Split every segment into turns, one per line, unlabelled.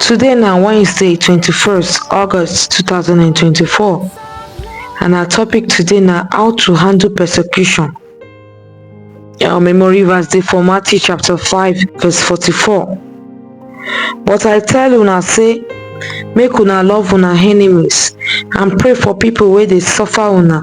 Today na Wednesday twenty first August two thousand and twenty four and our topic today na how to handle persecution. Our memory verse dey for Matthew chapter five verse forty four. But I tell una say make una love una enemies and pray for people wey dey suffer una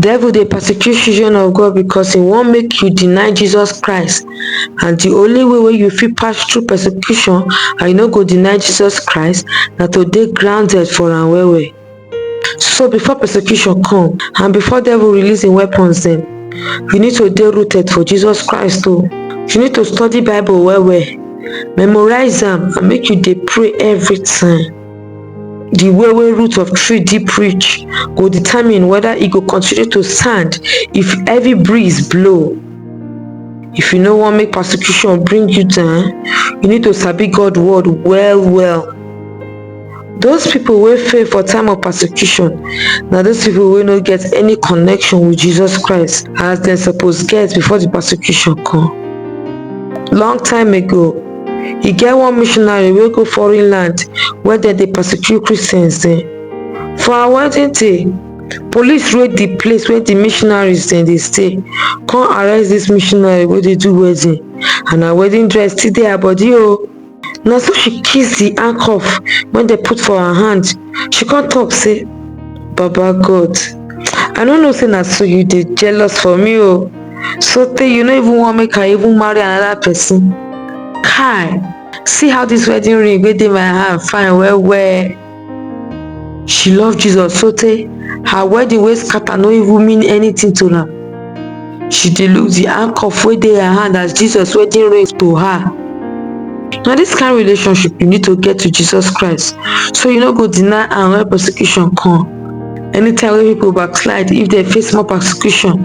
Devil dey persecute children of God because he wan make you deny Jesus Christ and the only way wey you fit pass through persecution and you no go deny Jesus Christ na to dey grounded for am well well. So before persecution come and before devil release im weapons dem, you need to dey rooted for Jesus Christ o. You need to study bible well well, memorize am and make you dey pray everytime. di way wey root of tree deep reach go determine whether e go continue to stand if heavy breeze blow if you no want make persecution bring you down you need to sabi god word well well those people wey fail for time of persecution na those people wey no get any connection with jesus christ as dem suppose get before the persecution come long time ago E get one missionary wey go foreign land where dem dey persecute Christians dem. For her wedding day, police raid the place where the missionaries dem dey stay, come arrest this missionary wey dey do wedding and her wedding dress still dey her body o. Na so she kiss the handcuff wey dem put for her hand, she come talk say, Baba God, I no know say na so you dey jealous for me o. so tey you no even want make i even marry another person kai see how this wedding ring wey dey my hand fine well well she love jesus so tey her wedding wey scatter no even mean anything to am she dey look the handcuff wey dey her hand as jesus wedding ring to her na this kind relationship you need to get to jesus christ so you no go deny am when persecution come anytime wey people backslide if dem face more persecution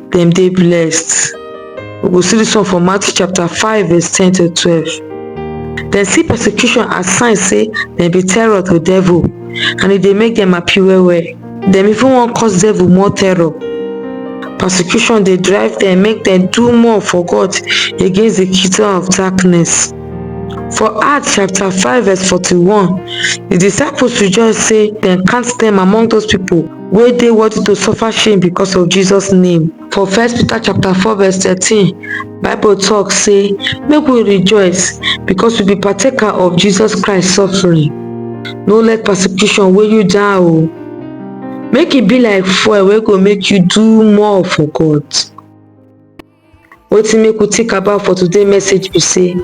dem dey blessed. We go see this one for Matthew chapter 5 verse 10 to 12. Dem see persecution as sign say dem be terror to devil and e dey make dem happy well well. Dem even wan cause devil more terror. Persecution dey drive dem make dem do more for God against the kingdom of darkness. For Acts chapter 5 verse 41, the disciples rejoice say dem count dem among those people wey dey worthy to suffer shame because of Jesus name. For first Peter chapter 4 verse 13, Bible talk say make we rejoice because we be partaker of Jesus Christ suffering. No let persecution weigh you down o. Make e be like fuel wey go make you do more for God. Wetin make we think about for today message be say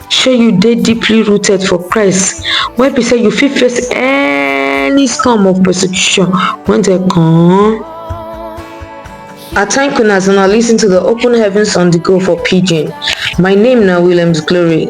shey you dey deeply rooted for Christ wey be say you fit face any storm of persecution when dem come. I thank una as una listen to the Open Heavens on the Go for Pidgin. My name na Williams Glory.